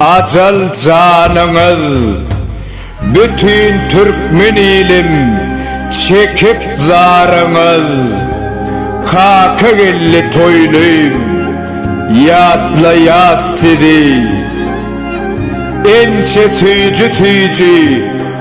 Ajal janyňyz bütin türkmen ilim çekip zaryňyz Kakageldi toýlym ýatlaýas sizi Ençe süýji süýji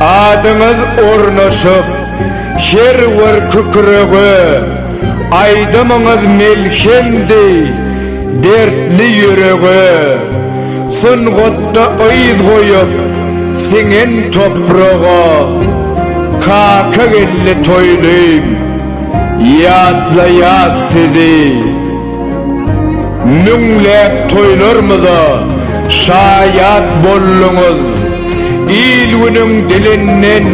Adyňyz ornaşyp her bir kükrege, Aýdymyňyz melhemdi dertli ýürege. Sungatda yz goýup siňen topraga, Kakageldi toýlym ýatlaýas sizi. Müňläp toýlarymyza şaýat bolduňyz, il-günüň dilinden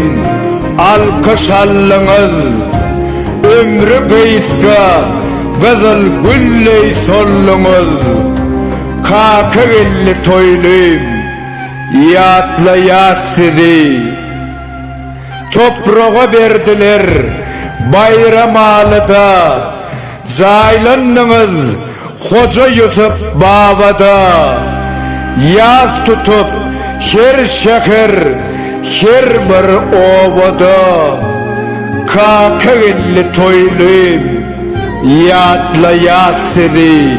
alkyş aldyňyz. Ömri gysga gyzyl gülleý solduňyz. Kakageldi toýlym, ýatlaýas sizi. Topraga berdiler Baýramalyda. Jaýlandyňyz Hoja Ýusup babada Ýas tutup her şäher, her bir obada Kakageldi toýly ýatlaýas sizi.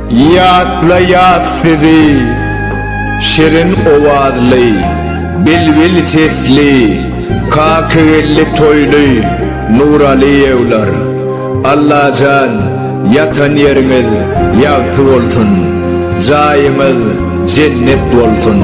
Ýatlaýas sizi, şirin owazly, bilbil sesli, kakygeldi toýly Nuralyýewler. Allajan, ýatan ýeriňiz ýagty bolsun, jaýyňyz jennet bolsun!